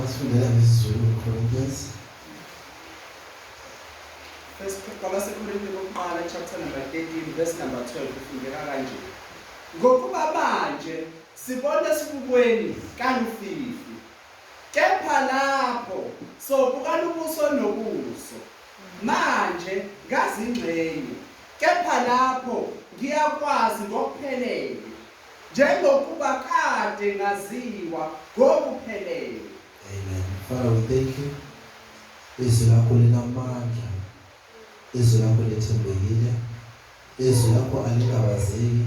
Wasifundela ngesiZulu uCorinthians. First kwabaseKorinte bokuqala chapter number 13 verse number 12 kufundeka kanje. Ngokuba manje sibona esibukweni kalufifi. Kepha lapho sobukana ubuso nobuso. Manje, ngazingxenye, kepha lapho ngiyakwazi ngokuphelele, njengokuba kade ngaziwa ngokuphelele. Amen. Father, we thank you. Izwi lakho linamandla. Izwi lakho lithembekile. Izwi lakho alingabazeki.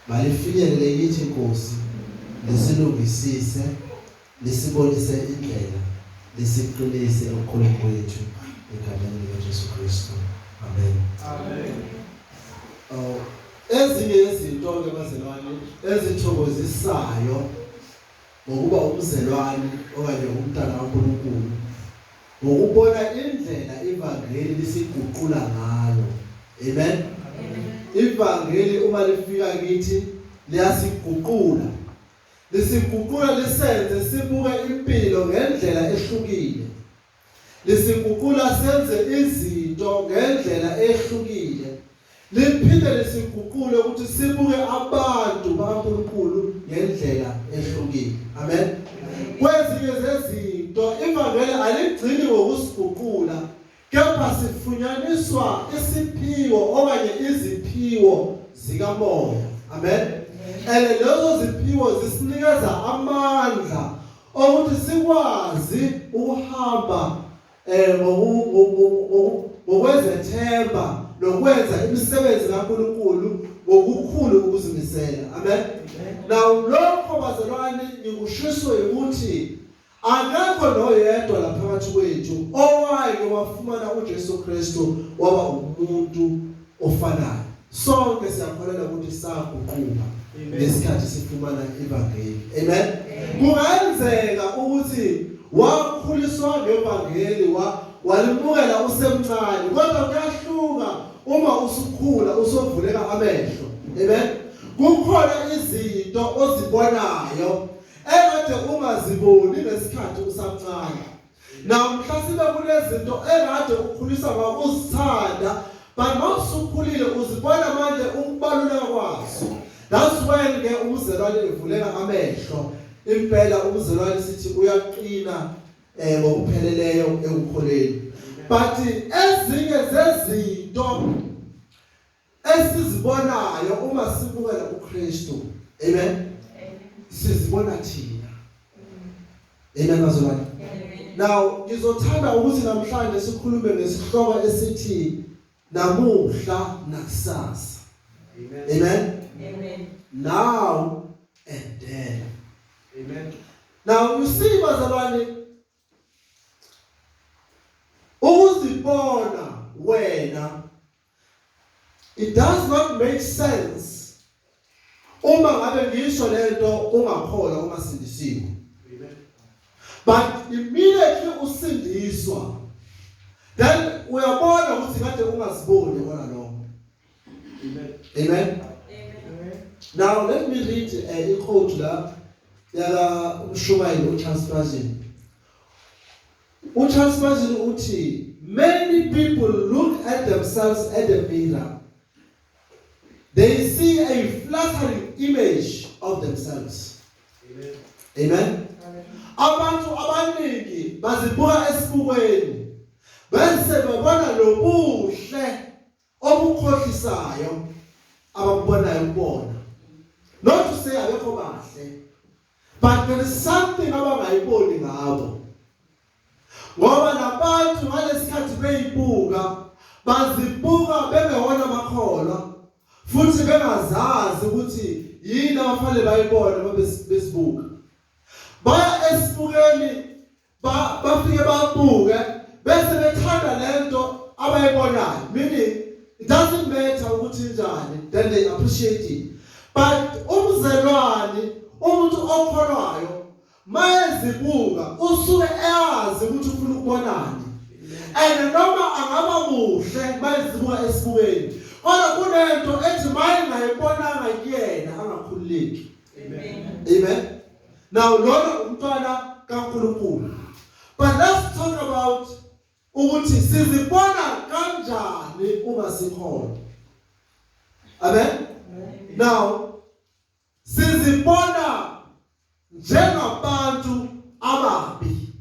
Malifinyelele kithi Nkosi, lisilungisise Lisibonise indlela, lisiqinise ukukholwa kwethu egameni likaJesu Kristu. Amen. Amen. Oh, ezinye yezinto-ke bazalwane ezithokozisayo ngokuba umzelwane okanye umntana kaNkulunkulu ngokubona indlela ivangeli lisiguqula ngayo amen ivangeli uma lifika kithi liyasiguqula Lisiguqula lisenze sibuke impilo ngendlela ehlukile. Lisiguqula senze izinto ngendlela ehlukile. Liphinde lisiguqule ukuthi sibuke abantu bakaNkulunkulu ngendlela ehlukile. Amen. Kwezinye zezinto ivangeli aligcini ngokusiguqula Kepha sifunyaniswa isiphiwo okanye iziphiwo zikamoya. Amen. And lezo ziphiwo zisinikeza amandla okuthi sikwazi ukuhamba eh ngokwezethemba nokwenza imisebenzi kaNkuluNkulu ngokukhulu ukuzimisela amen now lokho bazalwane ngikushiswe ukuthi Akekho noyedwa la phakathi kwethu owake wafumana uJesu Kristu waba umuntu ofanayo. Sonke siyakholelwa ukuthi saguquka ngesikhathi sifumana ivangeli. Amen. Kungenzeka ukuthi wakhuliswa ngevangeli wa walimukela usemncane kodwa kuyahluka uma usukhula usovuleka amehlo. Amen. Kukhona izinto ozibonayo Ekade ungaziboni ngesikhathi usamncane. Namhla sibe kunezinto ekade ukhulisa ngakuzithanda but mawusukhulile uzibona manje ukubaluleka kwazo. That's when ke umzalwane evuleka amehlo. Impela umzalwane sithi uyaqina eh ngokupheleleyo ekukholeni. But ezinye zezinto esizibonayo uma sibukela kuKristu amen sizibona thina amen bazalwane now ngizothanda ukuthi namhlanje sikhulume ngesihloko esithi namuhla nakusasa amen amen now and then amen now you see bazalwane ukuzibona wena it does not make sense uma ngabe ngisho lento ungakholwa uma sindisiwe but immediately usindiswa then uyabona ukuthi kade ungaziboni wona lokho Amen. Amen. Amen. Now let me read uh, a quote la yala umshumayeli uCharles Spurgeon. UCharles Spurgeon uthi many people look at themselves at the mirror. They see a flattering image of themselves. Amen. Amen. Abantu abaningi bazibuka esibukweni bese babona lobuhle okukhohlisayo abakubonayo kubona not to say abekho bahle but there is something abangayiboni ngabo ngoba labantu ngalesikhathi beyibuka bazibuka bengewona makholwa futhi bengazazi ukuthi yini abafanele bayibone uma besibuka baya esibukeni ba bafike babuke bese bethanda lento abayibonayo meaning it doesn't matter ukuthi njani then they appreciate it but umzelwani umuntu okholwayo mayezibuka usuke eyazi ukuthi ufuna ukubonani and noma angaba muhle mayezibuka esibukeni kodwa kunento ethi mayingayibonanga kuyena angakhululeki Amen. Amen. Now lona umntwana kaNkulunkulu. But let's talk about ukuthi sizibona kanjani uma sikhona. Amen. Now sizibona njengabantu ababi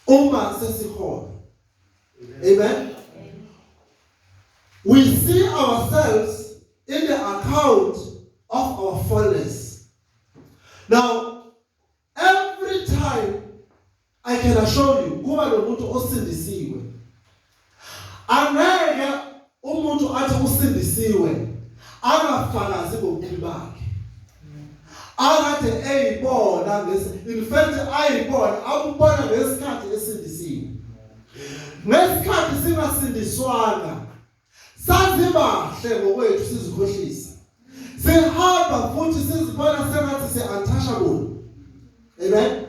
Uma sesikhona. Amen. We see ourselves in the account of our fullness. Now, every time I can assure you, kuba nomuntu osindisiwe Angeke umuntu athi usindisiwe angafakazi ngobubi bakhe. Akade eyibona ngesi in fact ayibona akubona ngesikhathi esindisiwe. Ngesikhathi singasindiswanga sazibahle ngokwethu sizikhohlisa. sihamba futhi sizibona sengathi si-untouchable amen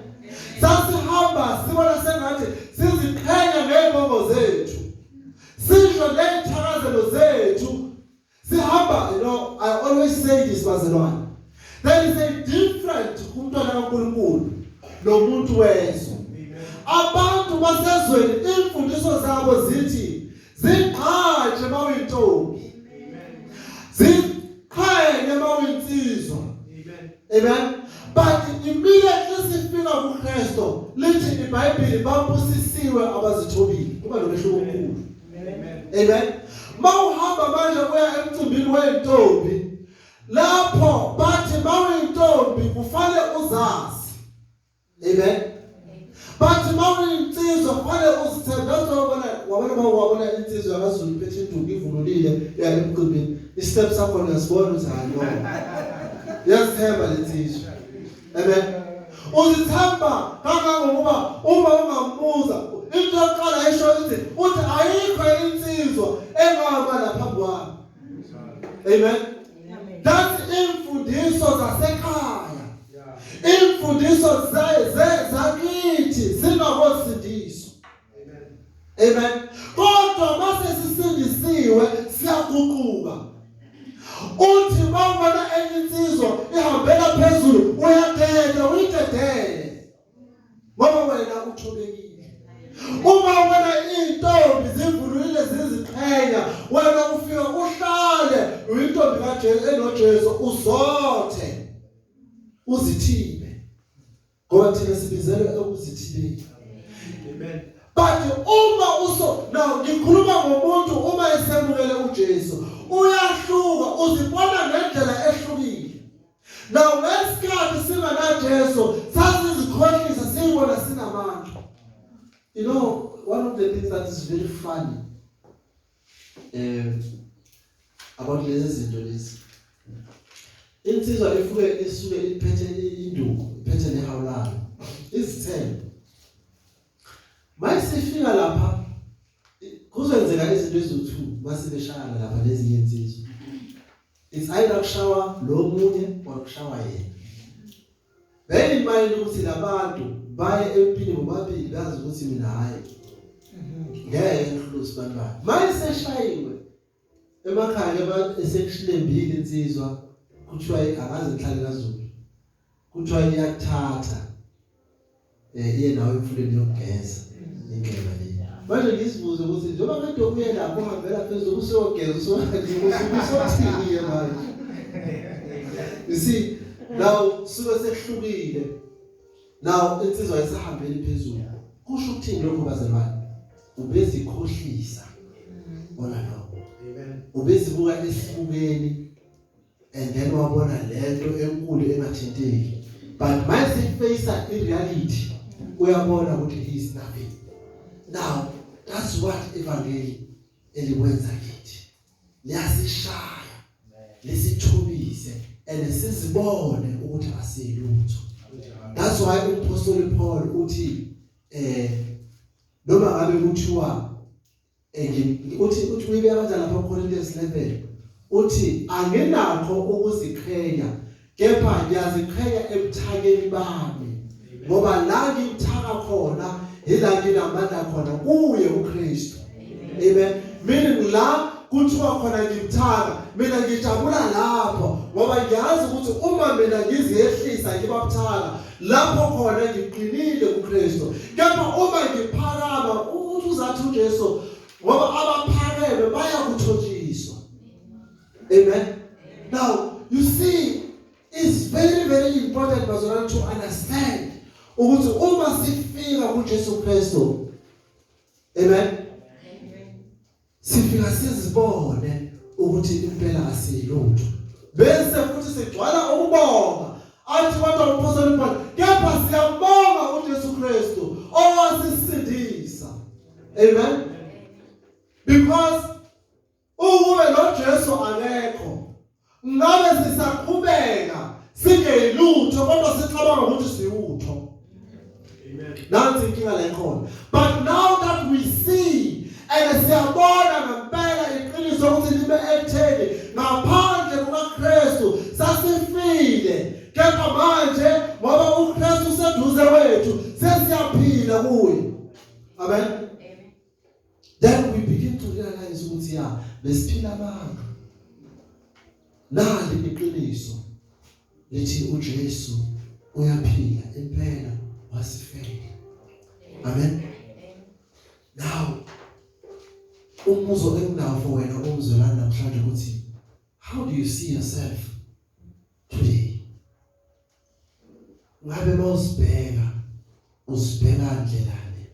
sasihamba sibona sengathi siziqhenya ngey'bongo zethu sisho ney'thakazelo zethu sihamba you know i always say this bazalwane there is a different kumntwana kankulunkulu nomuntu wezwe abantu basezweni imfundiso zabo zithi Zigqaje uma uyintombi. Ziqhayeke uma uyinsizwa. Amen. But immediately sifika kuKristu lithi iBhayibheli babusisiwe abazithobile. Kuba nomehluko omkhulu. Amen. Mawuhamba manje uya emcimbini wentombi lapho bathi mawuyintombi kufanele uzazi Amen. But mawuni insizwa kufanele uzithembe uzobona wabona ba wabona insizwa yaZulu phethe induku ivululile yalemqibini. Istep sakho ngasibona ukuthi hayi no. Yasithemba lensizwa. Amen. Uzithemba kangangokuba uma ungambuza into yokuqala esho ukuthi uthi ayikho insizwa engaba lapha kwami. Amen. That's imfundiso zasekhaya. Imfundiso zakithi zingakosindiswa. Amen. Kodwa mase sisindisiwe siyaguquka. Uthi mawubona enye insizwa ihambela phezulu uyadeda uyidedele. ngoba wena uthobekile uma ubona intombi zivulile ziziqhenya wena ufika uhlale uyintombi kaJesu enoJesu uzothe uzithibe ngoba thina sibizelwe ekuzithibeni amen but uma uso now ngikhuluma ngomuntu uma esemukele uJesu uyahluka uzibona ngendlela ehlukile Now ngesikhathi singanaJesu sasizikhohlisa siyibona sinamandla. You know one of the things that is very funny eh about lezi zinto lezi insizwa ifuke isuke iphethe induku iphethe nehawu layo izithelo mayisifika lapha kuzenzeka izinto eziwu2 masibeshayana lapha lezi insizwa It's either kushawa lo munye or kushawa yena. Bear in mind ukuthi labantu baye empini bobabili bazi ukuthi mina hayi. Ngeke ngihlusi bantwana. Manje seshayiwe emakhaya esekushlembile insizwa kuthiwa akaze ngihlale kaZulu. kuthiwa iyathatha eh iye nawe emfuleni yokugeza indlela le manje ngisibuze ukuthi njengoba kade uye lapho uhambela phezulu usogeza usothini ke manje you see now suke sekuhlukile now insizwa isahambeli phezulu kusho ukuthini lokho bazalwane ubezikhohlisa bona lokho ubezibuka esibukeni and then wabona lento enkulu engathinteki but mase face i reality uyabona ukuthi he is nothing now that's what evangeli elikwenza kithi liyasishaya lisithubise and sizibone ukuthi asilutho that's why uphostoli Paul uthi eh noma ngabe kuthiwa uthi uthi uyibeka kanjani lapha kuCorinthians 11 uthi anginakho ukuziqhenya kepha ngiyaziqhenya ebuthakeni bami ngoba la ngimthaka khona yila nginamandla khona kuye uKristu amen mina ngila kuthiwa khona ngimthaka mina ngijabula lapho ngoba ngiyazi ukuthi uma mina ngiziyehlisa ngibabuthaka lapho khona ngiqinile kuKristu kepha uma ngiphakama umuntu uzathi uJesu ngoba abaphakeme bayakuthotshiswa amen now you see it's very very important bazalwane to understand ukuthi uma sifika kuJesu Kristu amen sifika sizibone ukuthi impela asiyilutho bese futhi sigcwala ukubonga athi kodwa uphosela impela kepha siyabonga uJesu Kristu owasisindisa amen because ukube lo Jesu akekho Ngabe sisaqhubeka singeyilutho kodwa sicabanga ukuthi siwutho. Amen. Nansi inkinga la ikhona. But now that we see and siyabona ngempela iqiniso ukuthi libe ekutheni ngaphandle kukaKristu sasifile kepha manje ngoba uKristu seduze kwethu sesiyaphila kuye. Amen. then we begin to realize ukuthi ya besiphila abantu nali iqiniso lithi uJesu uyaphila impela wasifela amen now umbuzo enginawo for wena umzwelana namhlanje ukuthi how do you see yourself ngabe mawusibheka usibheka kanjani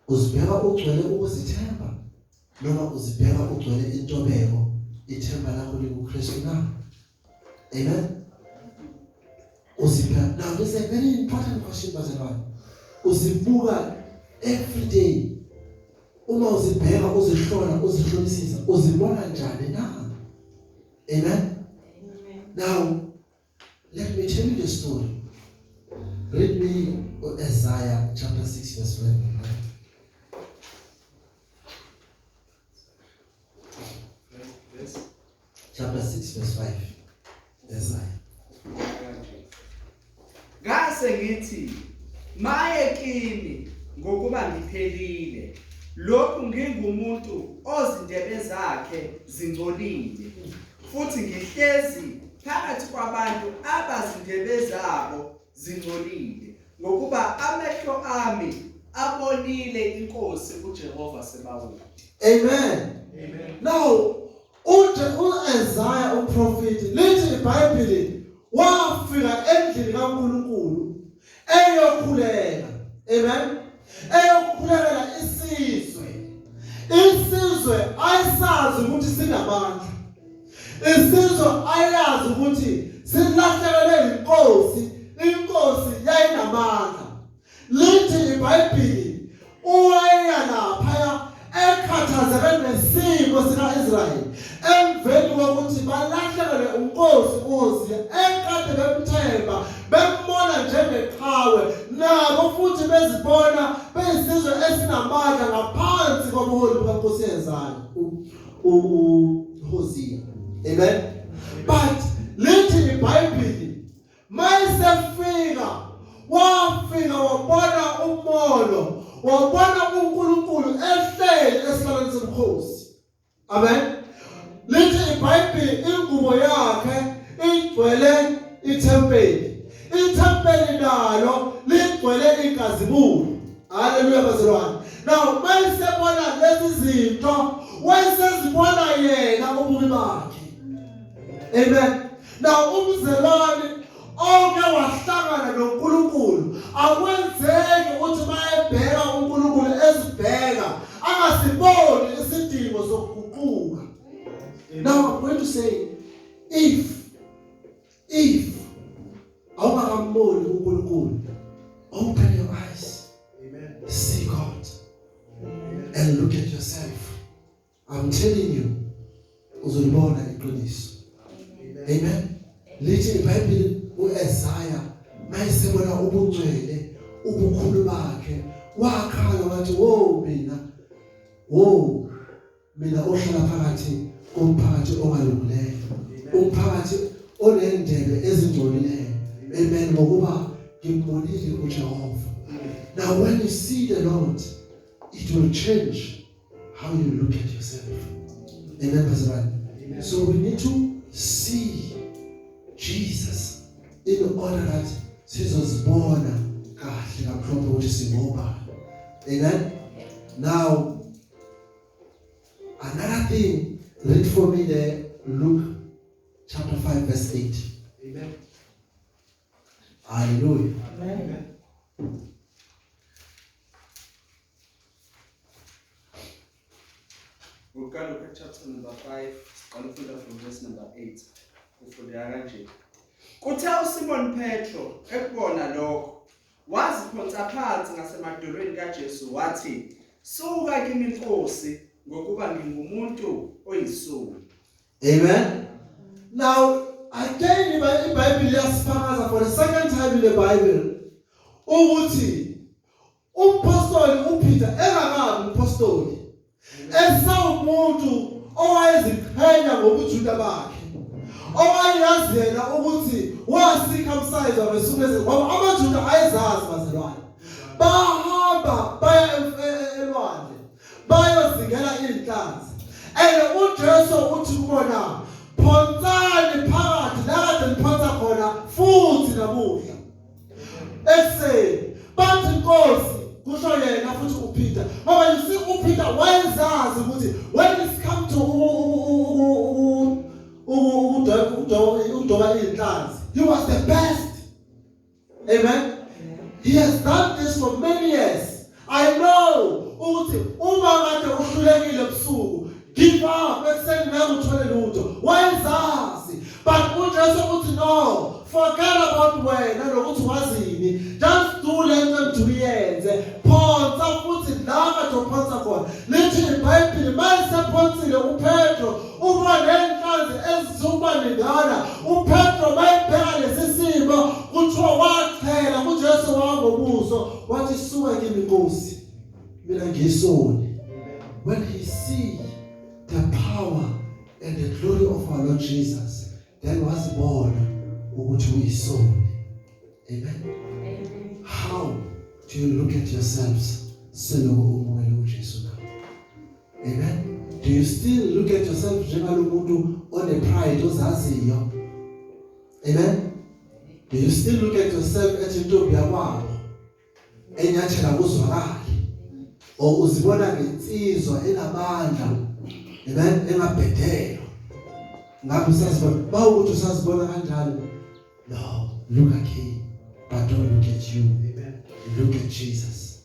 uzibheka ugcwele ukuzithemba noma uzibheka ugcwele intobeko ithemba lakho likuKristu na amen uzibheka now this is a very important question bazalwane uzibuka every day uma uzibheka uzihlola uzihlolisisa uzibona njani na amen now Let me tell you the story. Read me Isaiah chapter 6 verse 11. Chapter 6 verse 5. Isaiah. Ngase ngithi maye kimi ngokuba ngiphelile lokhu ngingumuntu ozindebe zakhe zingcolile futhi ngihlezi phakathi kwabantu abazindebe zabo zingcolile ngokuba amehlo ami abonile inkosi uJehova sebawude amen amen now uthe uIsaiah uprofeti lithi iBhayibheli wafika endlini kaNkulunkulu eyokhuleka amen eyokhulekela isizwe isizwe ayisazi ukuthi sinamandla isizwe ayazi ukuthi silahlekelwe inkosi inkosi yayinamandla lithi ibhayibhili Uwayeya laphaya ekhathazeke nesimo sika-Israyeli emveni kokuthi balahlekelwe uNkosi uHosiya ekade bemthemba bembona njengeqhawe nabo futhi bezibona beyisizwe esinamandla ngaphansi kobuholi bukaNkosi yezayo uHosiya amen but lithi ibhayibheli mayesefika wafika wabona umolo wabona uNkulunkulu ehleli esihlalweni sobukhosi amen lithi ibhayibheli ingubo yakhe igcwele ithempeli ithempeli nalo ligcwele inkazimulo haleluya bazalwane now mayesebona lezi zinto wayesezibona yena ububi bakhe amen Na umzelwane oke wahlangana noNkulunkulu akwenzeki ukuthi mayebheka uNkulunkulu ezibheka angasiboni isidingo sokuguquka. Now I'm going to say if if awungakamboni uNkulunkulu open your eyes. Amen. See God. Amen. And look at yourself. I'm telling you uzolibona iqiniso amen lithi iBhayibheli uEsaya mayesebona ubungcwele ubukhulu bakhe wakhala wathi wo mina wo mina ohlala phakathi komphakathi ongalungileyo umphakathi onendebe ezingcolileyo amen ngokuba ngimbonile uJehova now when you see the Lord it will change how you look at yourself amen bazalwane so we need to see Jesus in order that sizozibona kahle kakhulu ukuthi singobani amen now another thing read for me there Luke chapter 5 verse 8 amen Haleluya. Amen. Uqala uka chapter number 5, siqala ukufunda from verse number 8. Kufundeka kanje. Kuthe uSimon Petro ekubona lokho, waziphonsa phansi ngasemadolweni kaJesu wathi, "Suka kimi Nkosi, ngokuba ngingumuntu oyisoni." Amen. Now, again, the Bible just further for the second time in the Bible. Ukuthi umpostoli uPeter engakabi umpostoli esawumuntu owayeziqhenya ngobujuda bakhe owayazi yena ukuthi wasikhamsayiza ngesuku lezi ngoba amajuda ayezazi bazalwane bahamba baya elwandle bayozingela iinhlanzi and uJesu uthi kubona phonsani phakathi la kade niphonsa khona futhi namuhla ekuseni bathi inkosi kusho yena futhi uPeter ngoba you see uPeter wayezazi ukuthi when it come to ukudoba iinhlanzi he was the best Amen. He has done this for many years. I know ukuthi uma kade uhlulekile ebusuku give up ekuseni nawe uthole lutho wayezazi but uJesu uthi no forget about wena nokuthi wazini just do lento engiyenze phonsa futhi la kade uphonsa khona lithi ibhayibhili mayisephonsile upetro uma ngenhlanzi ezizuba ningana upetro mayibheka lesi simo kuthiwa wachela kujesu wangobuso wathi suka kimi nkosi mina ngisoni when he see the power and the glory of our lord jesus then wazibona ukuthi uyisoni amen how do you look at yourselves selokhu umukele ujesu Amen. Do you still look at yourself njengalomuntu one pride ozaziyo? Amen. Do you still look at yourself at intombi yakwabo enyathela kuzwakali? Or uzibona ngensizwa enamandla? Amen. Engabhedela. Ngabe usazibona? Bawukuthi usazibona kanjalo? No. Look at him. But don't look at you. Amen. Look at Jesus.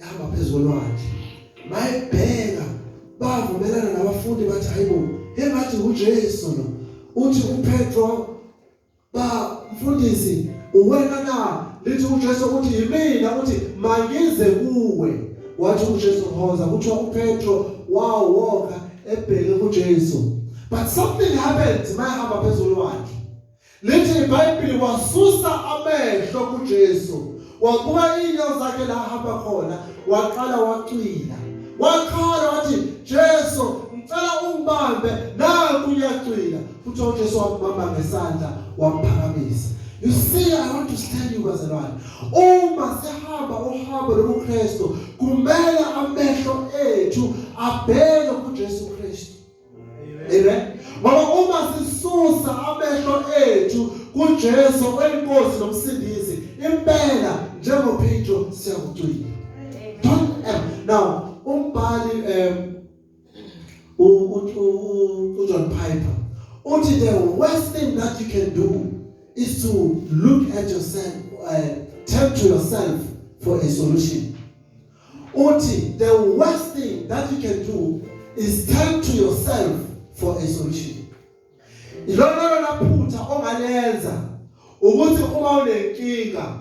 yahamba phezu kolwandle mayibheka bavumelana nabafundi bathi hayibo he bathi uJesu lo uthi uPetro ba mfundisi uwena na lithi uJesu ukuthi yimina uthi mangize kuwe wathi uJesu hoza kuthiwa uPetro wawoka ebheke kuJesu but something happened mayihamba phezulu wakhe Lithi iBhayibheli wasusa amehlo kuJesu, wabuka iinyawo zakhe la hamba khona, waqala wacwila. Wakhala wathi, "Jesu, ngicela ungibambe, naku uyacwila." Futhi uJesu wambamba ngesandla, wamphakamisa. You see, I want to tell you bazalwane, uma sihamba uhambo lobuKristu, kumele amehlo ethu abheke kuJesu Kristu. Amen. Ngoba uma sisusa amehlo ethu kuJesu oyinkosi nomsindisi impela njengoPetro siyakucwila. Don't ever. Now umbhali um uJohn Piper uthi the worst thing that you can do is to look at yourself uh, turn to yourself for a solution uthi the worst thing that you can do is turn to yourself for a solution ilona lona phutha ongalenza ukuthi uma unenkinga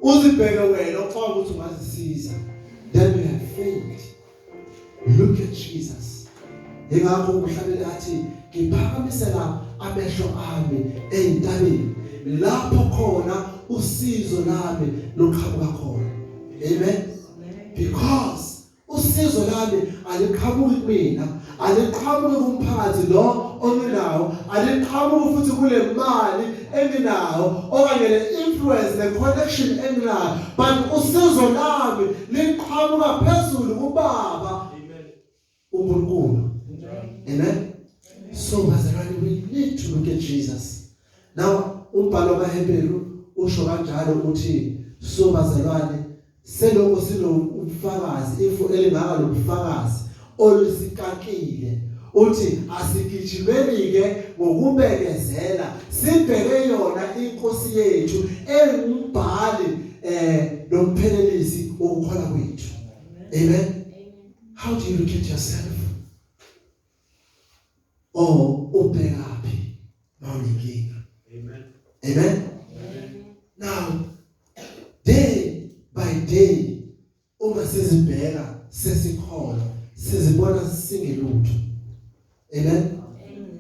uzibheke wena ucaba ukuthi ungazisiza then you have failed look at Jesus ingakho umhlabeni athi ngiphakamisela amehlo ami ezintabeni lapho khona usizo lami luqhamuka khona amen because usizo lami aliqhamuki kumina aliqhamuki kumphakathi lo onginawo aliqhamuki futhi kule mali enginawo okanye le influence ne connection enginayo but usizo lami liqhamuka phezulu kubaba uNkulunkulu amen so bazalwane we need to look at Jesus now umbhalo kaHebheru usho kanjalo ukuthi so bazalwane selokho sinobufakazi ifu elingaka lobufakazi olusikakile uthi asigijimeni ke ngokubekezela sibheke yona inkosi yethu engumbhali eh nomphelelisi wokukhona kwethu amen how do you look at yourself oh ubheka phi mawulinkinga amen amen now day by day uma sizibheka sesikholwa sizibona singelutho amen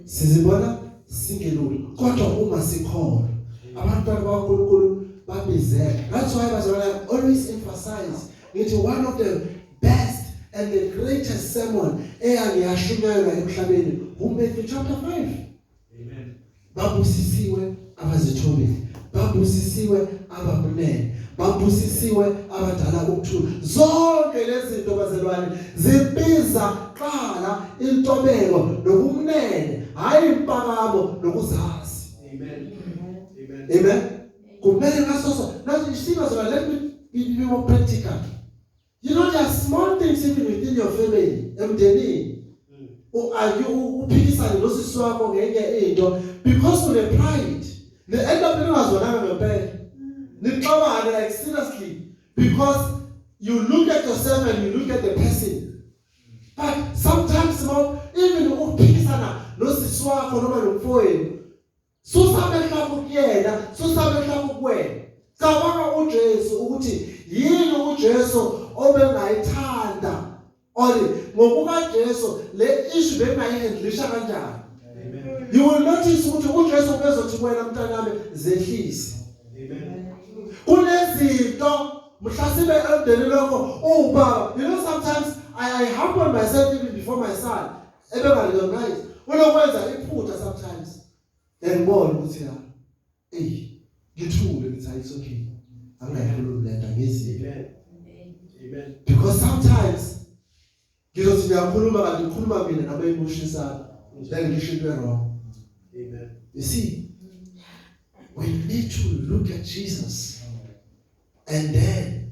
sizibona singelula kodwa uma sikhona abantwana bakaNkulunkulu babizela that's why bazalwane I always emphasize ngithi one of the best and the greatest sermon eyangiyashunyayelwa emhlabeni uMatthew chapter 5 babusisiwe abazithobile babusisiwe abakumele babusisiwe abadala ukuthula zonke lezi zinto bazalwane zibiza qala intobeko nokumnene hayi impakamo nokuzazi amen amen amen kumele ngasoso nathi isimo zona let me be more practical You know there are small things even within your family emndenini. Mm. Uayu uphikisana nosisi wakho ngenye into because une pride. Ne end up ningazwananga ngempela. Mm. Nixabane like seriously because you look at yourself and you look at the person. But sometimes small even uphikisana nosisi wakho noma nomfowenu Susa amehlo akho kuyena, susa amehlo akho kuwena. Cabanga uJesu ukuthi yini uJesu obengayithanda or ngokuba Jesu le issue bengayihandlisha kanjani. Amen. You will notice ukuthi uJesu ubezothi kuwena mntanami zehlise. Amen. Kunezinto mhlasibe emndenini wakho ubaba you know sometimes I, I humble myself even before my son ebengarecognize unokwenza iphutha sometimes then ngibone ukuthi la ey ngithule ngithi hayi it's okay angayikhulumi lento ngizile amen because sometimes ngizothi ngiyakhuluma kanti ngikhuluma mina noma imushisana then ngisho into wrong amen you see we need to look at Jesus and then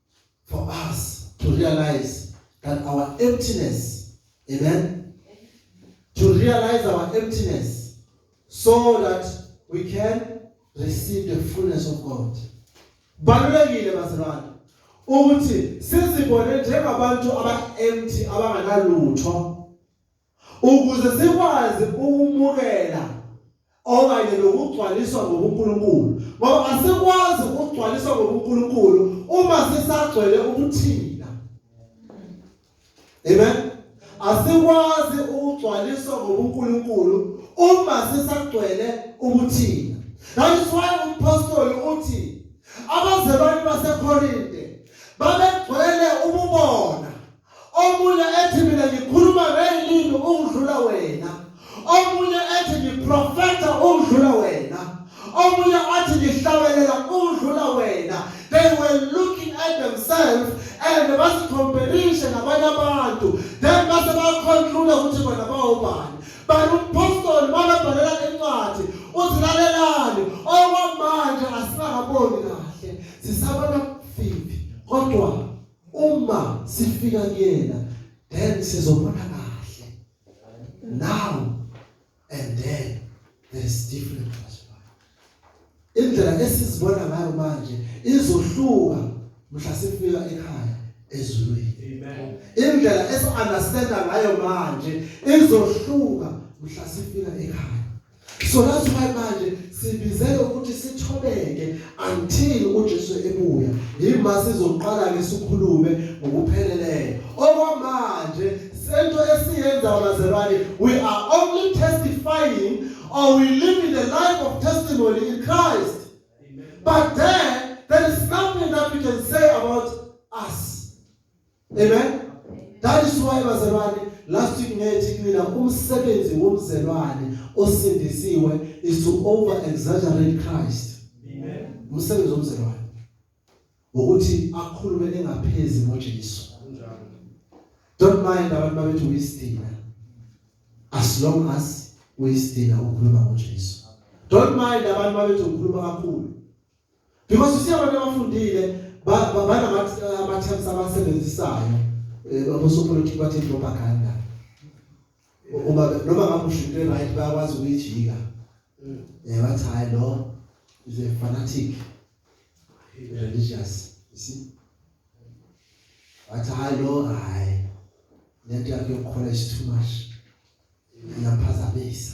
for us to realize that our emptiness, amen? To realize our emptiness so that we can receive the fullness of God. Balulekile bazalwane ukuthi sizibone njengabantu aba empty abanganalutho ukuze sikwazi ukumukela okanye nokugcwaliswa ngobuNkulunkulu ngoba asikwazi ukugcwaliswa ngobuNkulunkulu uma sisagcwele ubuthina amen asikwazi ukugcwaliswa ngobuNkulunkulu uma sisagcwele ubuthina that is why umpostoli uthi abazalwane baseKorinte babegcwele ububona omunye ethi mina ngikhuluma ngeylimi ukudlula wena omunye ethi ngiprofetha ukudlula wena omunye athi ngihlabelela ukudlula wena they were looking at themselves and basicomparishe nabanye abantu then base baconclude ukuthi bona bawubani but umpostoli makabhalela incwadi uthi lalelani okwamanje asingakaboni kahle sisabona fifi kodwa uma sifika kuyena then sizobona kahle now and then there is different indlela esizibona ngayo manje izohluka mhla sifika ekhaya ezulwini amen indlela esiunderstanda ngayo manje izohluka mhla sifika ekhaya So that's why manje sibizele ukuthi sithobeke until uJesu ebuya. Yima sizoqala ke sikhulume ngokupheleleyo. Okwamanje sento esiyenza bazalwane we are only testifying or we live in the life of testimony in Christ. Amen. But then there is nothing that we can say about us. Amen. That is why bazalwane last week ngethi kumina umsebenzi womzelwane osindisiwe is to over exaggerate Christ. Amen. Umsebenzi womzelwane ukuthi akhulume engaphezi ngoJesu. Don't mind abantu babethu uyisidina. As long as uyisidina ukhuluma ngoJesu. Don't mind abantu babethu ukhuluma kakhulu. because usiya abantu abafundile banama-terms abasebenzisayo eh, abosopolitiki bathe propaganda uma noma ngamusho into e-right bayakwazi ukuyijika um eh, bathi hhayi lo is a fanatic religious you see bathi hhayi lo hhayi lento yakho yokukhola is too much iyaphazamisa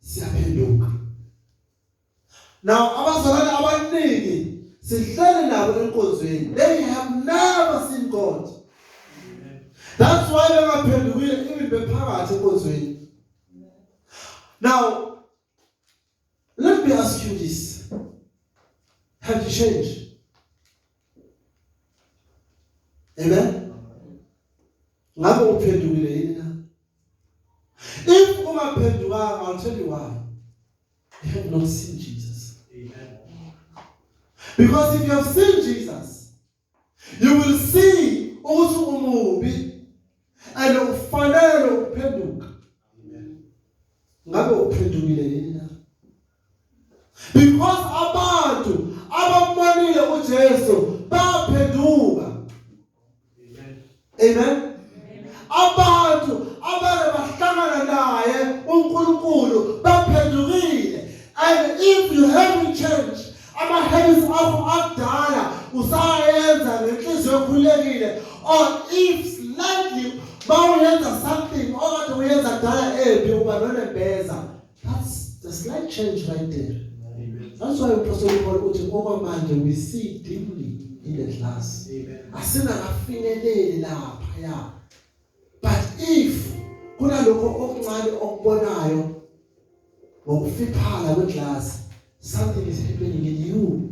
siyaphenduka now abazalwane abaningi sihlale nabo enkonzweni they have never seen god that's why bengaphendukile even bephakathi enkonzweni now let me ask you this have you changed Amen. Ngabe uphendukile yini na? If ungaphendukanga I'll tell you why. You have not seen Jesus. Amen. Because if you have seen Jesus, you will see ukuthi umubi and ufanele ukuphenduka. Amen. Ngabe uphendukile yini? because abantu abammanile uJesu baphenduka amen amen abantu abale bahlangana naye uNkulunkulu baphendukile and if you haven't changed ama habits akho akudala usayenza ngenhliziyo ekhulekile or if slightly bawuyenza something okade uyenza kudala embi uba nonembeza That's the slight change right there. That's why uPostoli Paul uthi okwamanje we see dimly in the glass. Asingakafinyeleli lapha ya. But if kunalokho okuncane okubonayo ngokufiphala kweglass something is happening in you.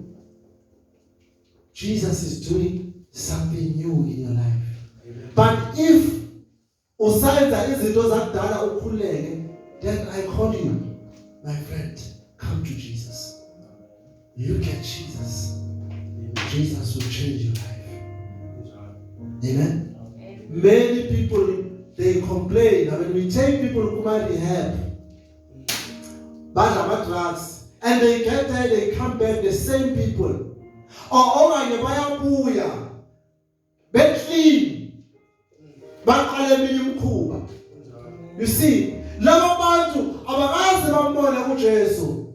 Jesus is doing something new in your life. But if Usayenza izinto zakudala ukhuleke then I call you my friend come to Jesus. You get Jesus. Jesus will change your life. Amen. Many people they complain that when we take people who might be help, badla ama drugs and they get there they come back the same people or okanye bayabuya beclean baqale eminye imikhuba you see laba bantu abakaze bambone uJesu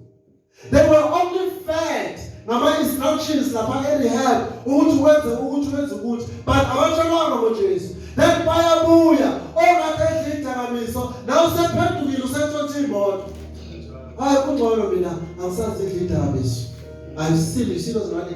they were only fed ngama instructions lapha erehab ukuthi wenze ukuthi wenze ukuthi but abatshelwanga ngoJesu then bayabuya ongathi edla idakamizwa nawe usephendukile usethotha imoto hayi kungcono mina angisazi idla idakamizwa ayisile isilo zimali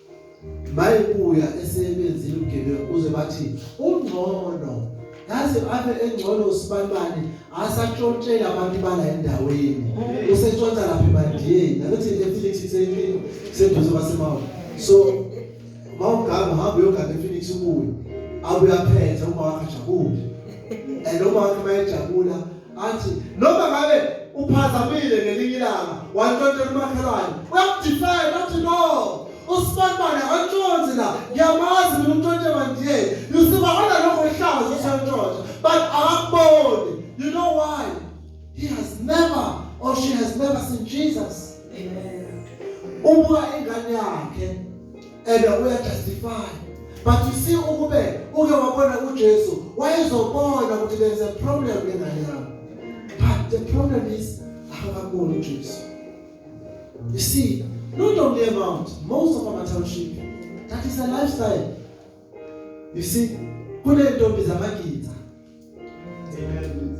bayibuya esebenzile ugebengu kuze bathi ungcono yazi abe engcono usibanibani asatshotshela abantu bala endaweni usetshontsha lapha emandiyeni nanothi ePhoenix isenkini seduze kwasemawa so mawugama hamba uyogada ePhoenix ubuye abuya phethe uma wakhe jabule and uma wakhe mayejabula athi noma ngabe uphazamile ngelinye ilanga wantontela umakhelwane uyakudifela athi no usibanibani akantshonzi la ngiyamazi mina umntwente bandiye you see bahona lokho ihlazo sentshontsha but akakuboni you know why he has never or she has never seen jesus amen ubuka ingane yakhe and uya justify but you see ukube uke wabona uJesu wayezobona ukuthi there is a problem ngengane yakho but the problem is akakaboni uJesu you see not only amount most of our township that is a lifestyle you see kunentombi zamagidi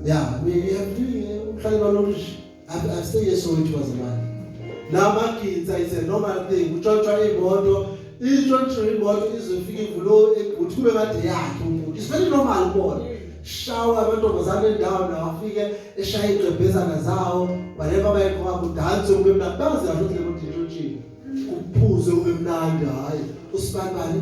Yeah, we have really uhlale balolish. I've, I've said yes so it was a man. Lama kids I said normal thing. Utshontshwa imoto, intshontsho imoto izofika ivulo eguthi kube kade yakhe umuntu. It's very normal bona. Shawa amantombazane endawo nawafike eshaya igqebhezana zawo, baleka bayekho kwabo dance ube mnandi. Bazi kahle ukuthi le moto intshontshiwe. Kuphuze ube mnandi hayi. Usibani bani?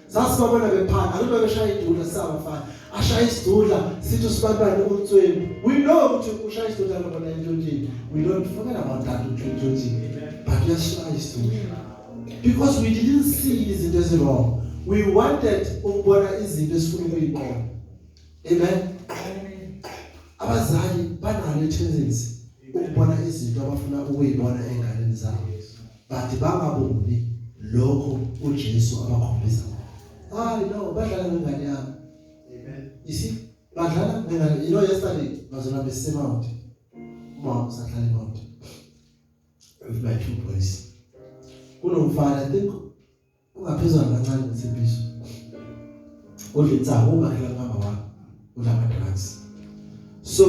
sasibabona bephana akube beshaya idudla sabafana ashaya isidudla sithi usibantwana umtsweni we know ukuthi ushaya isidudla lobona entshonjini we don't forget about that entshonjini but uyashaya isidudla because we didn't see izinto ezirong we wanted ukubona izinto esifuna ukuyiqonda amen abazali banalo ithendency ukubona izinto abafuna ukuyibona enganeni zabo but bangaboni lokho uJesu abakhombisa hayi no badlala ngengane yami amen isi badlala ngengane you know yesterday bazona besemount mom sahlala emount with my two boys kunomfana i think Ungaphezwa kancane umthembiso. Udla insangu ungakhela ngama wakho. Udla ama drugs. So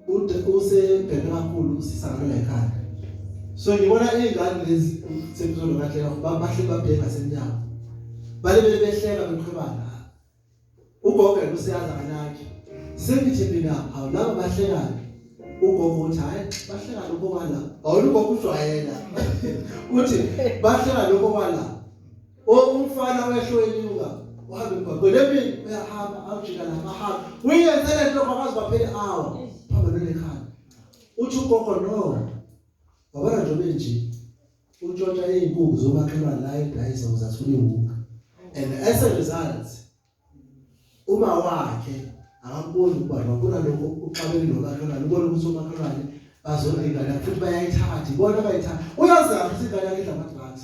ude usebheke kakhulu usisakala ekhaya. So ngibona izingane lezi umthembiso lokatlela babahle babheka senyawo. Bale bele behleka beqhubana. ugogo useyazi akanaki sengithi mina awu laba bahlekayo ugogo uthi hayi bahleka lokho wala awulu ugogo ujwayela uthi bahleka lokho wala umfana wehlo enyuka uhambe emgwaqweni emini uyahamba awujika la mahamba uyenze le nto kwakazi baphele awa phambi lelekhaya uthi ugogo no wabona nje benje untshontsha izinkukhu zomakhelwane la edayisa ukuze athole iwuka and as a result uma wakhe akakuboni ukuba ngakona lokho uxabene nomakhelwane ubona ukuthi umakhelwane bazona ingane futhi bayayithatha ibona bayithatha uyazama ukuthi ingane yakhe idla amadrugs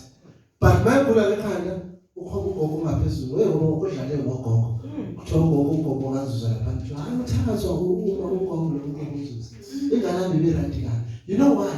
but mayigula lekhanda ukhona ugogo ungaphezulu wewe ngoba ukudlale ngogogo hmm. kuthiwa ugogo ugogo akazuza lapha kuthiwa hayi uthakazwa uma ugogo lo ugogo uzuza ingane yami ibe right kabi you know why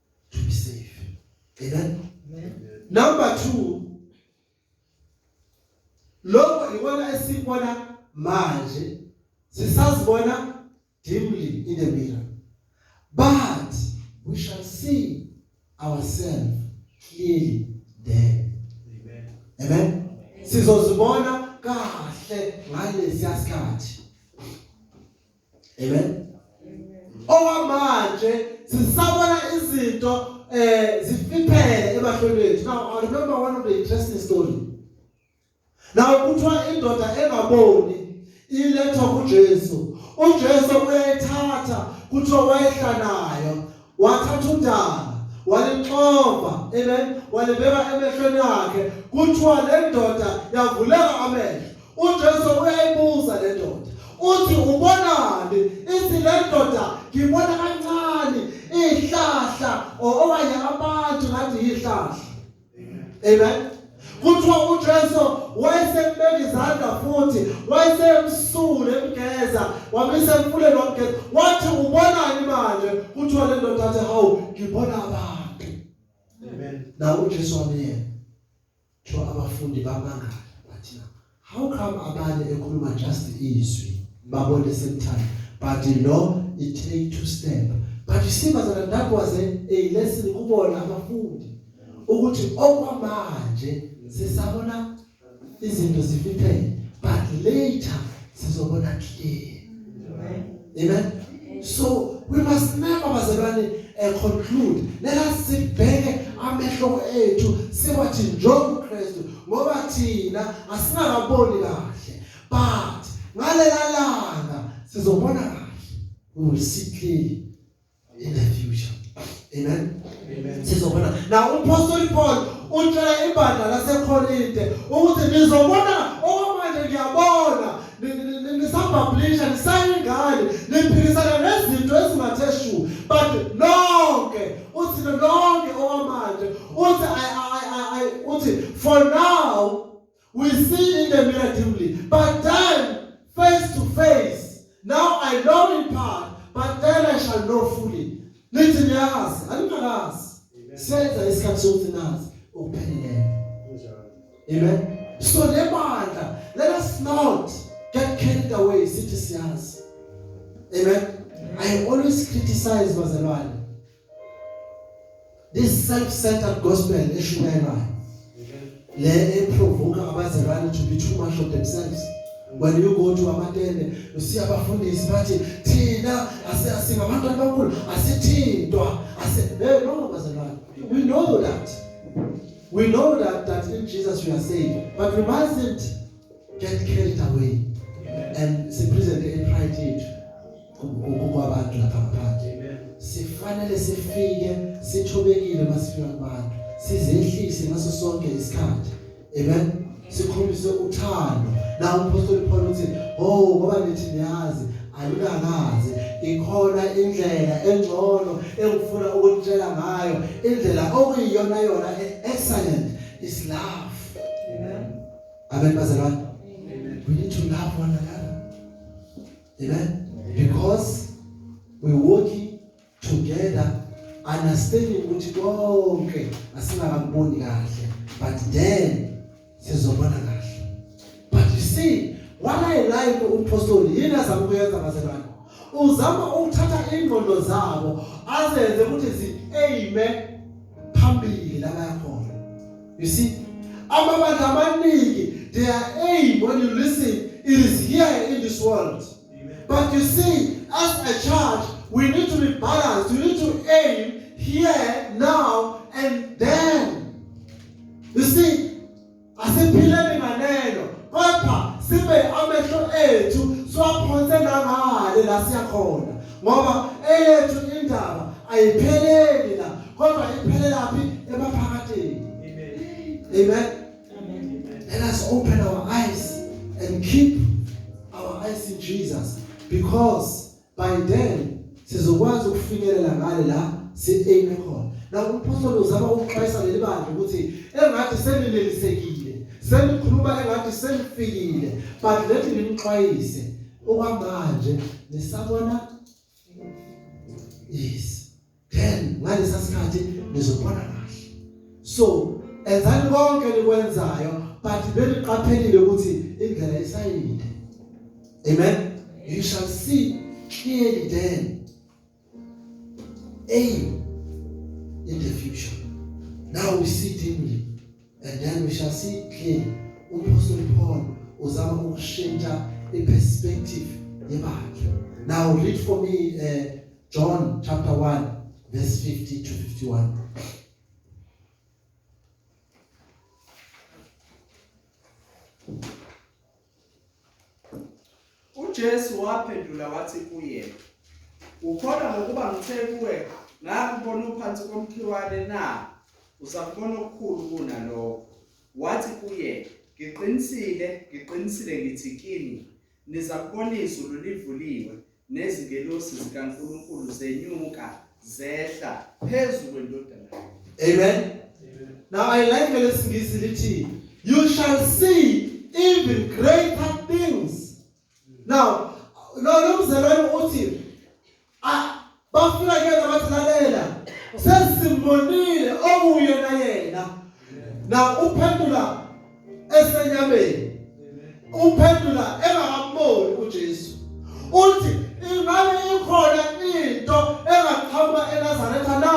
to be safe. Amen. Amen. Number 2 Lokho ikona esibona manje sisazibona dimly in the mirror but we shall see ourselves clearly there. Amen. Amen. Sizozibona kahle ngalesi sikhathi. amen owamanje sisabona izinto eh zifiphele ebahlweni bethu now i remember one of the interesting story now kuthiwa indoda engaboni ilethwa kuJesu uJesu uyayithatha kuthiwa wayehlanayo wathatha udala walixova amen walibeka emehlweni akhe kuthiwa le ndoda yavuleka amehlo uJesu uyayibuza le ndoda uthi ubonani ithi le ndoda ngibona kancane ihlahla okanye abantu ngathi yihlahla Amen. Kuthiwa uJesu wayesembeka izandla futhi wayesembusule emgeza wamisa emfuleni wamgeza wathi ubonani manje kuthiwa le ndoda athi hawu ngibona abantu amen nawo uJesu wamyena kuthiwa abafundi bamangala bathi How come abanye ekhuluma just izwi babone same time but lo it take two step but you see bazana that was a, a lesson kubona abafundi ukuthi okwamanje sisabona izinto zifithele but later sizobona clear Amen. Amen. So we must never bazalwane uh, conclude. Let us sibheke amehlo ethu siwathi njengoba uKristu ngoba thina asingakaboni kahle but ngalela langa sizobona kahle. We will see clearly. in the future amen amen sizobona na umpostoli Paul utshela ibandla laseKorinte ukuthi nizobona okwamanje ngiyabona nisabhablisha nisayingane niphikisana nezinto ezingathe shu but nonke uthi nonke okwamanje uthi i i i uthi for now We see in the mirror dimly, but then face to face. Now I know in part, but then I shall know fully. Nithi niyazi, aningakazi. Senza isikhathi sokuthi nazi ukuphelele. Amen. So lebandla, let us not get carried away sithi siyazi. Amen. I always criticize bazalwane this self-centered gospel eshumayelayo le eprovoke abazalwane to be too much of themselves when you go to amatende usiya abafundisi bathi thina asiyasinga abantu abakhulu asithintwa ase hey no bazalwane we know that we know that that in Jesus we are saved but we mustn't get carried away and sipresent in pride yethu kwabantu lapha ngaphandle sifanele sifike sithobekile masifika kubantu sizehlise ngaso sonke isikhathi amen sikhombise uthando la umpostoli Paul uthi oh ngoba nithi niyazi alukakaze ikhona indlela engcono engifuna ukutshela ngayo indlela okuyiyona yona e-, excellent is love amen amen bazalwane we need to love one another Amen. Yeah. Because we working together understanding ukuthi konke asingakaboni kahle but then sizobona kahle. But you see what I like umpostoli yini azama ukuyenza bazalwane. Uzama ukuthatha ingqondo zabo azenze ukuthi zi amen phambili la bayakhona. You see, amabandla amaningi, their aim, when you listen, it is here in this world. But you see, as a church, we need to be balanced. We need to aim here, now, and then. You see, asiphileni nganeno kodwa sibe amehlo ethu siwaphonse nangale la siyakhona ngoba eyethu indaba ayipheleli kodwa iphelelaphi emaphakadeni amen let us open our eyes and keep our eyes in Jesus because by then sizokwazi ukufinyelela ngale la si aim khona la umphostoli uzama ukuxwayisa leli bandla ukuthi engathi senilelisekile senikhuluma engathi senifikile but lethi nimxwayise okwamanje nisabona yes then ngalesa sikhathi nizobona kahle so enzani konke likwenzayo but beliqaphelile ukuthi indlela isayinde amen you shall see clearly then aim in the future now we see dimly and then we shall see clearly umpostoli Paul uzama ukushintsha iperspective yebandla now read for me uh, John chapter 1 verse 50 to 51. UJesu waphendula wathi kuye Ukhona ngokuba ngithe kuwe ngakubona uphansi komkhiwane na uzakubona okukhulu kunalokho wathi kuye ngiqinisile ngiqinisile ngithi kini Nezakuboniso lulivuliwe, nezingelosi zikaNkulunkulu zenyuka zehla phezu kwendodana yomuntu. Amen. Now I like lesingisi lithi you shall see even greater things. Now lo mzalwane uthi bafika kuyena bathi lalela sesimbonile okuye na yena na uphendula esenyameni uphendula engakamboni uJesu uthi ingane ikhona into engaqhamuka eNazaretha na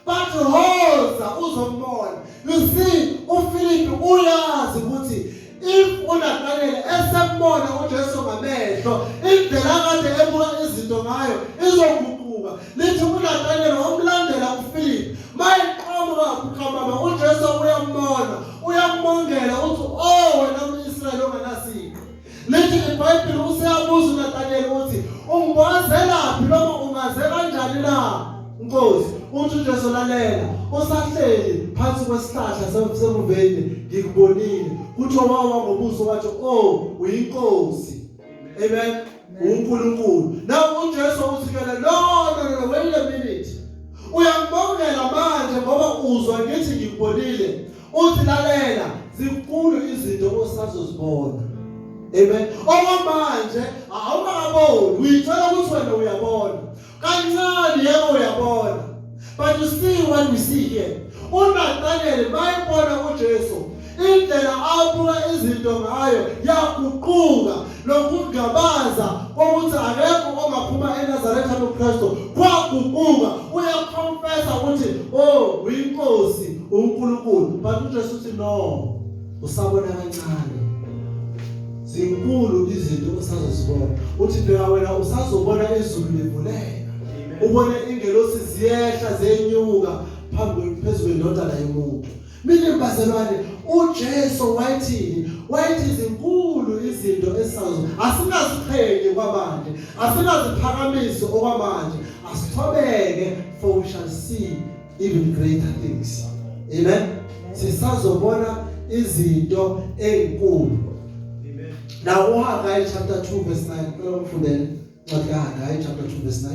bathi hoza uzombona you see uFilipi uyazi ukuthi if uNathaniel esembona uJesu ngamehlo indlela kade ebuka izinto ngayo izoguquka lithi uNathaniel wamlandela uFilipi mayiqhamuka uqhamama uJesu uyambona uyambongela uthi oh wena umIsrael ongenasipho Lithi iBhayibheli useyabuza uNathaniel ukuthi ungibozelaphi noma ungaze kanjani na? Nkosi, uthi uJesu lalela, usahleli phansi kwesihlahla semuveni ngikubonile. Kuthiwa wawa ngobuso wathi, "Oh, uyinkosi." Amen. uNkulunkulu. Nawe uJesu uthi kele, "No, no, no, wait a minute." Uyangibongela manje ngoba uzwa ngithi ngikubonile. Uthi lalela zinkulu izinto osazozibona. Amen. Okwamanje awungaboni, uyithola ukuthi wena uyabona. Kancane yebo uyabona. But you see what we see here. UNathaniel mayibona uJesu indlela abuka izinto ngayo yaguquka nokungabaza kokuthi akekho ongaphuma eNazaretha loKristu kwaguquka uyaconfessa ukuthi oh uyinkosi uNkulunkulu but uJesu uthi no usabona kancane zinkulu izinto osazozibona uthi bheka wena usazobona izulu livuleka ubone ingelosi ziyehla zenyuka phambi phezulu kwendodana yomuntu Minimbazelwane uJesu wayithini? Wayithi izinkulu izinto esazo. Asinaziqhenye kwabanje. Asinaziphakamisi okwamanje. Asithobeke for we shall see even greater things. Amen. Sisazobona izinto ezinkulu. Amen. Now uHaggai chapter 2 verse 9. Ngicela ufundele. Ncwadi kaHaggai chapter 2 verse 9.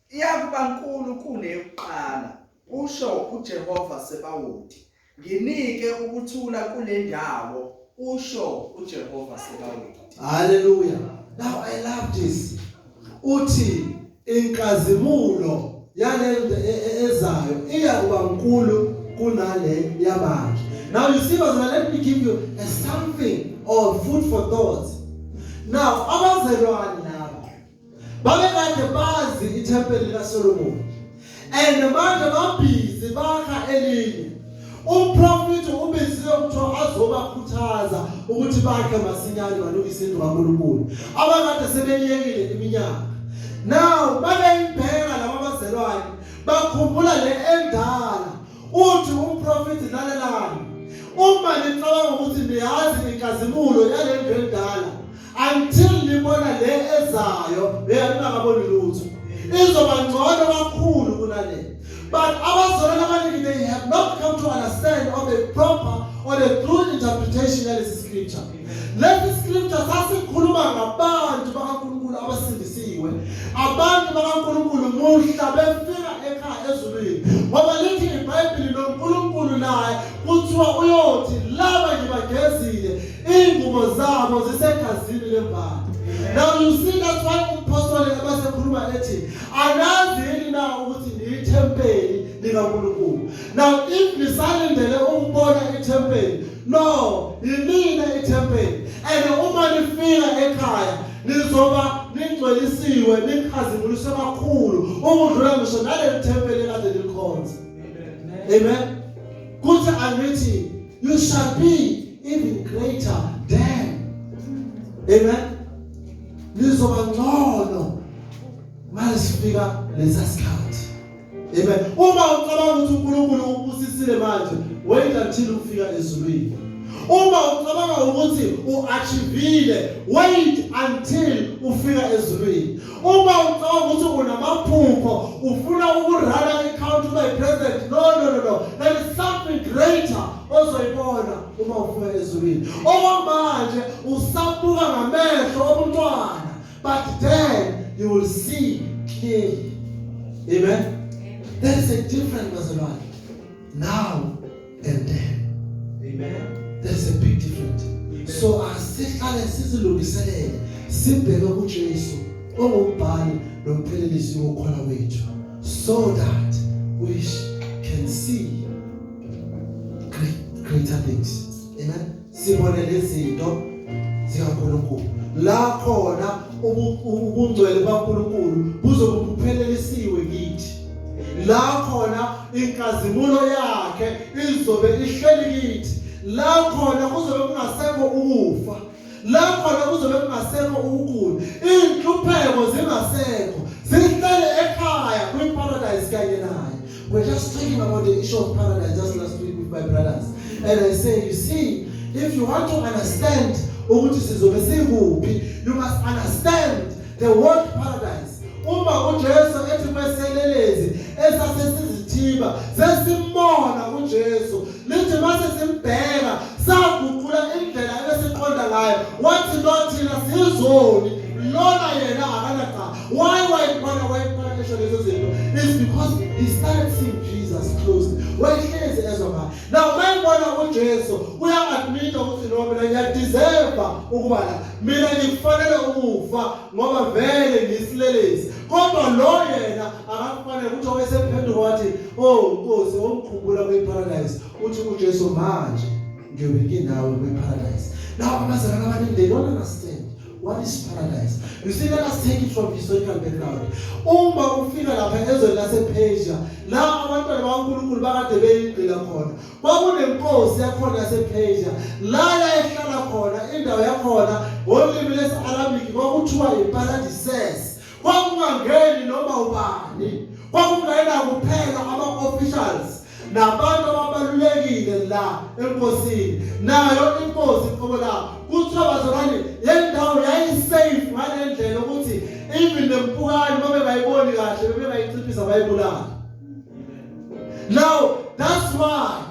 Iyakuba nkulu kuneyokuqala, kusho uJehova Sebawoti. Nginike ukuthula kule ndawo, kusho uJehova Sebawoti. Hallelujah. Now I love this. Uthi inkazimulo yalento e, e, ezayo iya kuba nkulu kunale yamanje. Now you see bazana let me give you a something or food for thought. Now abazelwani babekade bazi ithempeli likaSolomoni and manje babhizi bakha elinye umprofethi ubiziwe kuthiwa azobakhuthaza ukuthi bakhe masinyane balungise indlu kaNkulunkulu abakade sebeyekile iminyaka now babeyibheka laba bazelwane bakhumbula le endala uthi umprofethi lalelani uma nicabanga ukuthi niyazi inkazimulo yale ndlu endala until libona le ezayo beyangakaboni lutho izoba ngcono kakhulu kunale but abazalwana abaningi they have not come to understand or the proper or the true interpretation yalesi scripture lesi scripture sasikhuluma ngabantu bakaNkulunkulu abasindisiwe abantu bakaNkulunkulu muhla befika ekhaya ezulwini ngoba lithi ibhayibhili noNkulunkulu naye kuthiwa uyothi laba ngibagezile Ingubo zabo zisegazini lembali. Now you see that's why umpostoli abasekhuluma ethi anazi yini na ukuthi niyithempeli likaNkulunkulu. Now if nisalindele ukubona ithempeli no yimina ithempeli and uma nifika ekhaya nizoba ningcwelisiwe nikhazimuliswe kakhulu ukudlula ngisho naleli thempeli kade likhonza. Amen. Amen. Kuthi angithi you shall be even greater than. Amen. Nizoba ngcono masifika lesa sikhathi. Amen. Uma ucabanga ukuthi uNkulunkulu ukubusisile manje, wait until ufika ezulwini. Uma ucabanga ukuthi uachivile, wait until ufika ezulwini. uma ucabanga ukuthi unamaphupho ufuna ukurana i-count ube president no no no no there is something greater ozoyibona uma ufika ezulwini okwamanje usabuka ngamehlo obuntwana but then you will see clearly amen there is a difference bazalwane now and there amen there's a big difference amen. so asihlale sizilungiselele sibheke kuJesu ongumbhali nomphelelisi wokhona wethu so that we can see great, greater things amen sibone lezinto zikaNkulunkulu la khona ubungcwele bukaNkulunkulu buzobe buphelelisiwe kithi la khona inkazimulo yakhe izobe ihleli kithi la khona kuzobe kungasekho ukufa la khona kuzobe kungasekho ukugula inhlupheko zingasekho zihlele ekhaya kwiparadise kanye naye We're just talking about the issue of paradise just last week with my brothers. And I say, you see, if you want to understand ukuthi sizobe sikuphi, you must understand the word paradise. Uma uJesu ethi kweselelezi esasesizithiba sesimbona uJesu lithi mase simbheka saguqula indlela ebesiqonda ngayo wathi nothina sizoni lona yena akana Why wayibona wayibona ngisho lezo zinto is because he started seeing Jesus closely. Wayehlezi ezwa ngaye. Now mayibona uJesu uyamadmit ukuthi no mina ngiyadeserve ukuba la. Mina ngikufanele ukufa ngoba vele ngisilelezi. Kodwa lo yena akakufanele ukuthi owesephenduka wathi oh Nkosi ongikhumbula kwiparadise uthi uJesu manje ngiyobike nawe kwiparadise. Laba bazalana abanindeni wona ngasithemba What is paradise? You see, let us take it from historical background. Uma ufika lapha ezweni lasePersia, la abantwana bakaNkulunkulu bakade beyingqila khona. Kwakunenkosi yakhona yasePersia, la yayihlala khona, indawo yakhona, ngolimi lesi-Arabic kwakuthiwa yiParadises. kwakungangeni noma ubani kwakungena kuphela ama-officials nabantu ababalulekile la enkosini nayo inkosi qobo la kuthiwa bazalwane le ndawo yayisafe ngale ndlela ukuthi even nempukane babengayiboni kahle bebengayinciphisa bayibulala now that's why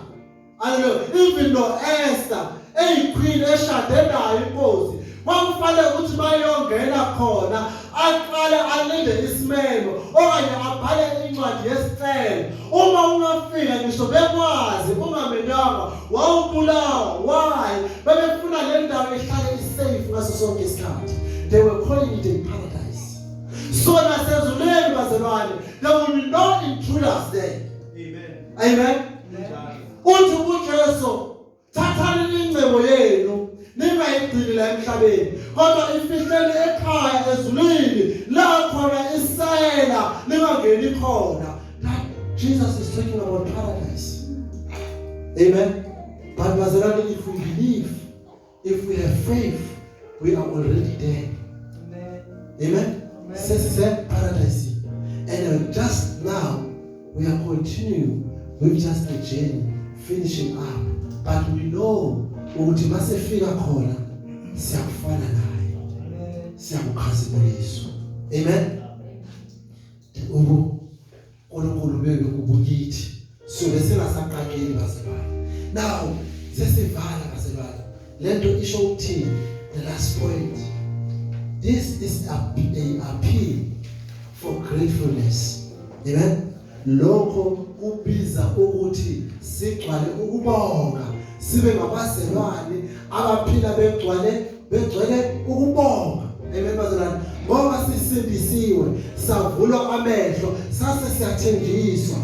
Hallelujah. Even though Esther eyiqueen eshade nayo inkosi kwakufanele ukuthi bayongena khona aqale alinde isimemo okanye abhale incwadi yesicelo uma ungafika ngisho bekwazi ungamenyanga wawubulawa why bebefuna le ndawo ihlale isafe ngaso sonke isikhathi they were calling it a paradise so nasezulwini bazalwane there will be no intruders there amen uthi kuJesu thathani ingcebo yenu ningayigcini la emhlabeni kodwa ifihleni ekhaya ezulwini la khona isela ningangeni khona Jesus is talking about paradise amen but bazalwane if we believe if we have faith we are already there amen amen sesise paradise and just now we are continuing with just a journey finishing up but we know ukuthi masefika khona siyakufana naye siyakukhazimulisa amen ubu uNkulunkulu bebe kubukithi suke singasaqaqeli bazalwane now sesivala bazalwane lento isho ukuthini the last point this is a, a appeal for gratefulness amen lokho kubiza ukuthi sigcwale ukubonga sibe ngabazelwane abaphila begcwale begcwele ukubonga amen bazalwane ngoba sisindisiwe savulwa amehlo sase siyathenjiswa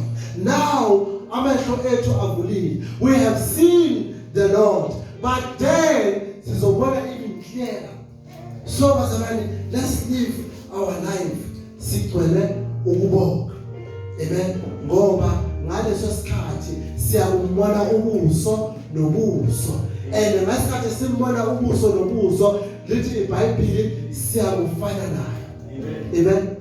now amehlo ethu avulile we have seen the lord but then sizobona even clearer so bazalwane let's live our life sigcwele ukubonga amen ngoba ngaleso sikhathi siyakubona ubuso nobuso and ngesikhathi simbona ubuso nobuso lithi iBhayibheli siyakufana naye amen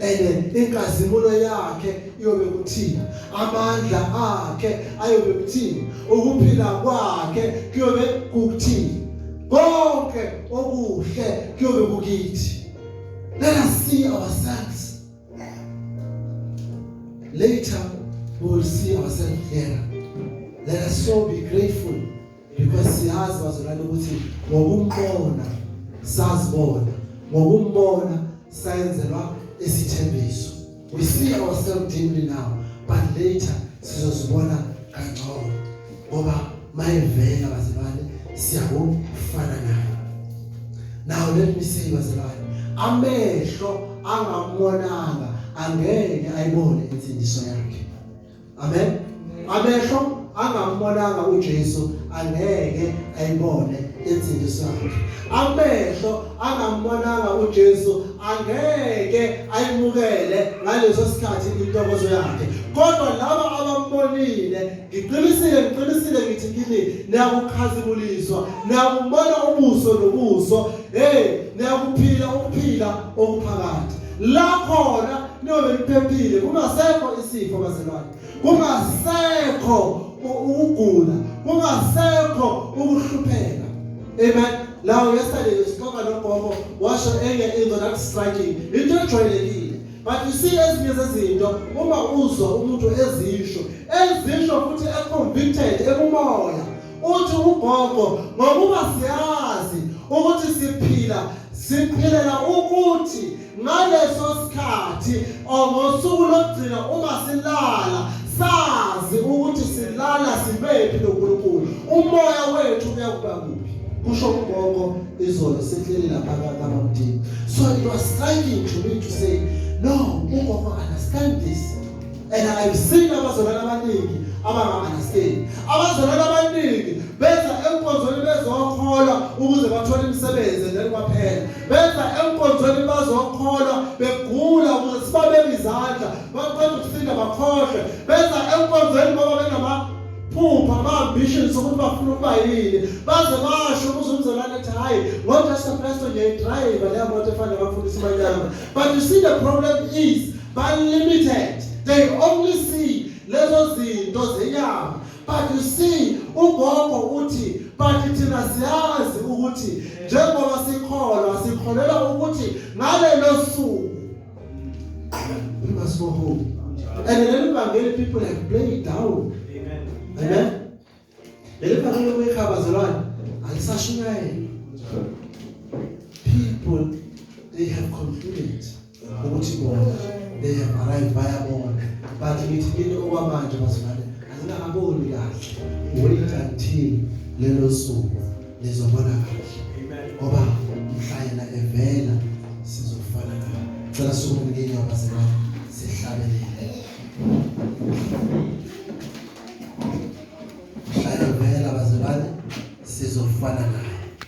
and inkazimulo yakhe iyobe kuthina amandla akhe ayobe kuthina ukuphila kwakhe kuyobe kukuthina konke okuhle kuyobe kukithi let us see ourselves later we will see ourselves there let us so be grateful because siyazi bazalwane ukuthi ngokumbona sazibona ngokumbona sayenzelwa isithembiso we see ourselves dimly now but later sizozibona kangcono ngoba mayevela bazalwane siyakufana naye now let me say bazalwane amehlo angamwonanga angeke ayibone insindiso yakhe amen amehlo angambonanga uJesu angeke ayibone insindiso yakhe amehlo angambonanga uJesu angeke ayimukele ngaleso sikhathi intokozo yakhe kodwa laba abambonile ngiqinisile ngiqinisile ngithi kini niyakukhazimuliswa niyakubona ubuso nobuso hey niyakuphila ukuphila okuphakathi la khona niyobe niphephile kungasekho isifo bazalwane kungasekho ukugula kungasekho ukuhlupheka amen lawo yesterday sixoxa nogogo washo enye into that striking into ejwayelekile but you see ezinye zezinto uma uzwa umuntu ezisho ezisho futhi econvicted ekumoya uthi ugogo ngokuba siyazi ukuthi siphila siphilela ukuthi ngaleso sikhathi ngosuku lokugcina uma silala sazi ukuthi silala sibephi noNkulunkulu umoya wethu uyakuba kuphi kusho ugogo izolo sihleli lapha kabamdini so it was striking to me to say no ugogo understand this and I've seen abazalwane abaningi abangamanaseli abazalwane abaningi benza enkonzweni bezokholwa ukuze bathole imisebenzi then kwaphela benza enkonzweni bazokholwa begula ukuze sibabeke izandla baqeda ukusinda bakhohlwe benza enkonzweni ngoba benama phupha ama-ambitions ukuthi bafuna ukuba yini baze basho kuze umzalwane ethi hhayi ngojesu kristu ngiyayidrayiva leya moto efanele bafundisa imanyama But you see the problem is by limited. They only see lezo zinto zenyama. But you see ugogo uthi but thina siyazi ukuthi njengoba sikholwa sikholelwa ukuthi ngalelo suku we must go home. And then the people have played down. Amen. Amen. Leli phakela lokuyikhaba zalwane alisashunyayela. People they have concluded ukuthi bona they have arrived bayabona but ngithi kini okwamanje bazalwane angingaboni kahle wait until lelo suku lizobona kahle ngoba mhla yena evela sizofana naye cela sukumukeni abazalwane sihlabelele Thank you. Shaya vela bazalwane sizofana naye.